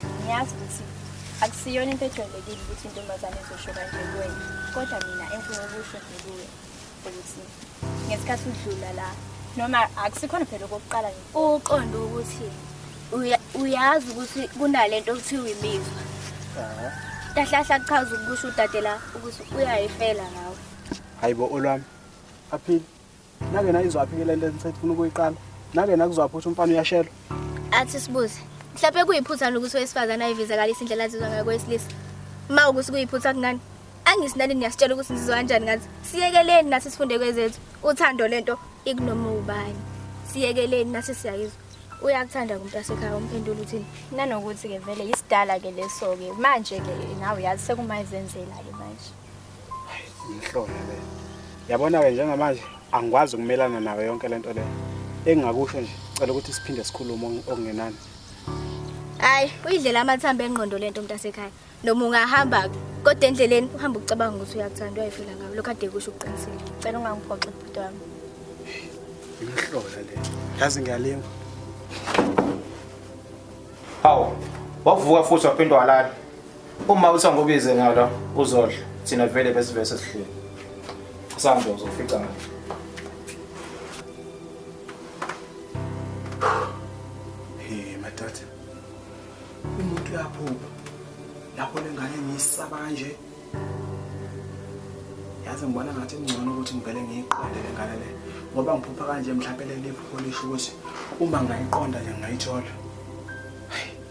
ngiyazi ukuthi akusiyona into ejwayelekile ukuthi intombazane izosho kanje kuwena kodwa mina engifuna ukusho nje kuwe ukuthi ngesikhathi udlula la noma akusikhona phela okokuqala nje uqonde ukuthi uya- uyazi ukuthi kunalento okuthiwa imizwa tahlahla kuchaza ukusho udade la ukuthi uyayifela ngawe hayibo olwami aphile Nake na izwaphi ke lento engisethi ufuna ukuyiqala. Nake na kuzwaphi ukuthi umfana uyashelwa. Athi sibuze. Mhlawumbe kuyiphutha lokuthi owesifazane ayivezakalisa indlela azizwa ngayo kwesilisa. Uma ukuthi kuyiphutha kunani? Angisinani niyasitshela ukuthi sizizwa kanjani ngathi. Siyekeleni nathi sifunde kwezethu. Uthando lento ikunoma ubani. Siyekeleni nathi siyayizwa. Uyakuthanda kumuntu wasekhaya umphendula uthini? Nanokuthi ke vele yisidala ke leso ke. Manje ke nawe yazi sekumayizenzela ke manje. Ngihlona le. Yabona ke njengamanje angikwazi ukumelana nayo yonke lento le. Engingakusho nje cela ukuthi siphinde sikhulume okungenani. Hayi, uyidlela amathambo engqondo lento mntasekhaya. Noma ungahamba kodwa endleleni uhamba ucabanga ukuthi uyakuthanda uyayifela ngawo lokho ade kusho uqinisile. Cela ungangiphoxi bhuti wami. Ngihlola le. Yazi ngiyalinga. Hawu, wavuka futhi waphindwa walala. Uma uthi angobize ngala uzodla thina vele besivese sihleli. Sambe uzofica ngalo. Hey matata. Umuntu uyaphupha. Lapho lengane ngiyisaba kanje. Yazi ngibona ngathi kungcono ukuthi ngivele ngiyiqonde lengane le. Ngoba ngiphupha kanje mhlawumbe leli phupho lisho ukuthi uma ngayiqonda nje ngayithola.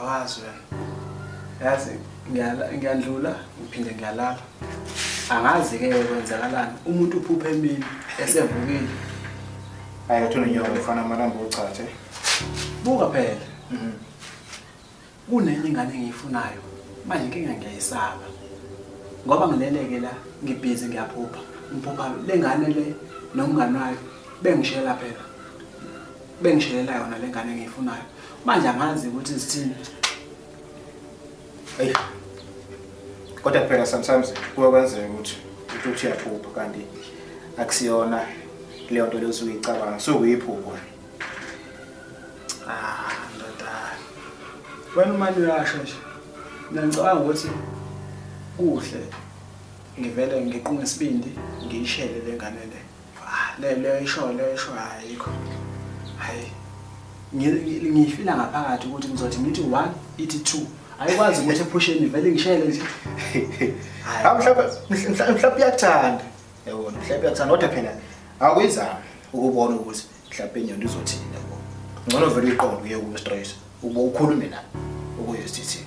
Awazi wena. Yazi ngiyandlula ngiphinde ngiyalala. Angazi ke kwenzakalani umuntu uphupha emini esevukile. Hayi uthona nyawo ufana amalamba ochathe. Buka phela. Mhm. Kunenye ingane engiyifunayo. Manje inkinga ngiyayisaba. Ngoba ngileleke la ngibhizi ngiyaphupha. Ngiphupha lengane le nomngane wayo bengishela phela. Bengishelela yona lengane engiyifunayo. Manje angazi ukuthi sithini. Hey. Kodwa phela sometimes kuyokwenzeka ukuthi uthi uthi uyaphupha kanti akusiyona leyo nto leyosuke icabanga so kuyiphupho ah ndoda wena umali uyasho nje nangicabanga ukuthi kuhle ngivele ngiqunge isibindi ngiyishele le ngane le Le le isho le isho ayikho. Hayi. Ngi- Ngiyifila ngaphakathi ukuthi ngizothi ngithi 1 ithi 2. Ayikwazi ukuthi ephusheni vele ngishele nje. Hayi. Hawu mhlawumbe mhla- mhla- mhlawumbe uyakuthanda. Yabona mhlawumbe uyakuthanda kodwa phela awuyizami ukubona ukuthi mhlawumbe inyoni izothini yabo. Ngcono vele uyiqonde uye kuyo straight. Ube ukhulume naye ukuyo sithini.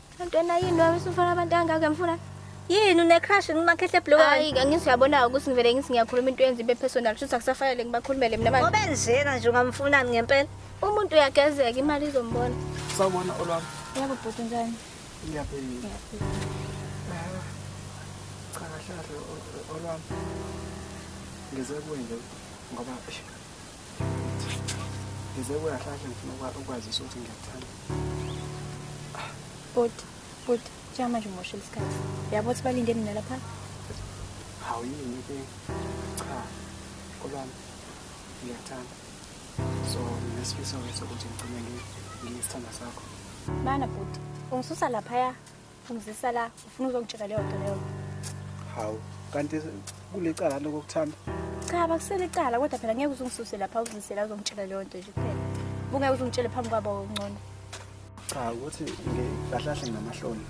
Antona yini wami usufuna abantu angaka mfuna? Yini une crush noma khehle blue? Hayi ke ngisiyabona ukuthi ngivele ngithi ngiyakhuluma into yenza ibe personal futhi akusafanele ngibakhulumele mina manje. Obenzena nje ungamfunani ngempela? Umuntu uyagezeka imali izombona. Sawubona olwami. Yebo bhuti njani? Ngiyaphila. Ah, cha kahle kahle olwami. Ngeze kuwe nje ngoba Ngize kuyahlahla ngifuna ukwazisa ukuthi ngiyakuthanda. Bhuti, bhuti, njengamanje umosha isikhathi. Yabo ukuthi balinde mina lapha? Hawu yini ke? Cha, kolwami ngiyakuthanda. So, nginesifiso-ke sokuthi ngigcine ngisithanda sakho. Bana bhuti, ungisusa laphaya Fungzisa la, ufuna uzongitshela leyo nto leyo. Hawu, kanti kule cala lokho kuthanda. Cha, bakusele icala kodwa phela ngeke uzungisuse lapha uzungisela uzongitshela leyo nto nje kuphela. Bungeke uzungitshele phambi kwabo ngcono. Cha, ukuthi ngikahlahle nginamahloni.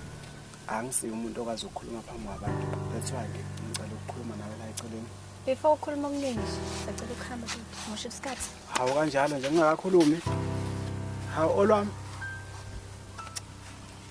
Angisiyo umuntu okazi ukukhuluma phambi kwabantu. That's why ke ngicela ukukhuluma nawe la eceleni. Before ukhuluma okuningi, sacela ukuhamba kuthi mosha isikhathi. Hawu kanjalo nje ngingakakhulumi. Hawu olwami.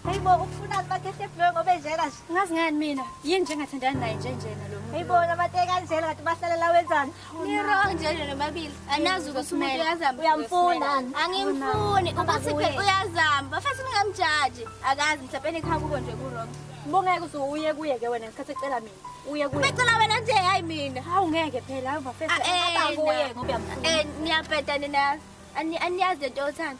Hey bo, ukufuna bakhethe flow ngoba enjena nje. Ngazi ngani mina, yini nje ngathandana naye nje njena lo muntu. Hey bo, namathe kanjena ngathi bahlalela wenzani? Ni wrong nje nje nomabili. Anazi ukuthi umuntu uyazama. Uyamfuna. Angimfuni, ukuthi ke uyazama. Bafethu ningamjaji. Akazi mhlawumbe ekhaya kubo nje ku wrong. Bongeke uze uye kuye ke wena ngesikhathi ecela mina. Uye kuye. Becela wena nje hayi mina. Hawu ngeke phela, hawu bafethu. Akakuye ngoba uyamfuna. Eh, niyabheda nina. Aniyazi lento othanda.